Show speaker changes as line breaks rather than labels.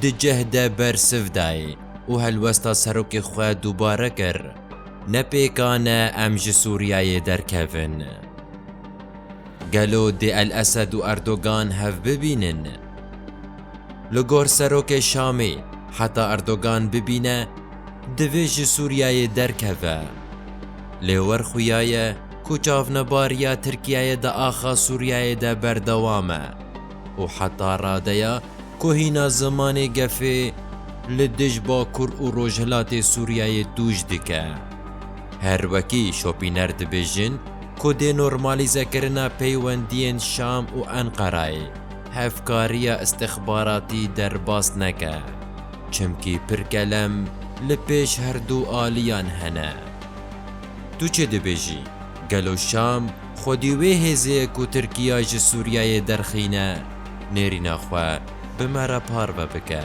Di cih de bersiv dayê û helwesta serokê xwe dubare kir, Ne pêkan e em ji Sûriyeyê derkevin. Gelo dê El-Esed û Erdogan hev bibînin? Li gor serokê Şamê, heta Erdogan bibîne, divê ji Sûriyeyê derkeve. Lê wer xuya ye ku çavnebariya Tirkiyeyê di axa Sûriyeyê de berdewam e. û heta radeya ku hîna zimanê gefê li dij Bakur û Rojhilatê Sûriyeyê tûj dike. Her wekî şopîner dibêjin ku dê normalîzekirina peywendiyên Şam û Enqerayê hevkariya îstixbaratî derbas neke, çimkî pir kelem li pêş herdu aliyan hene. Tu çi dibêjî, gelo Şam, Xwedî wê hêzê ku Tirkiya ji Sûriyeyê derxîne nêrîna xwe bi me re parve bike.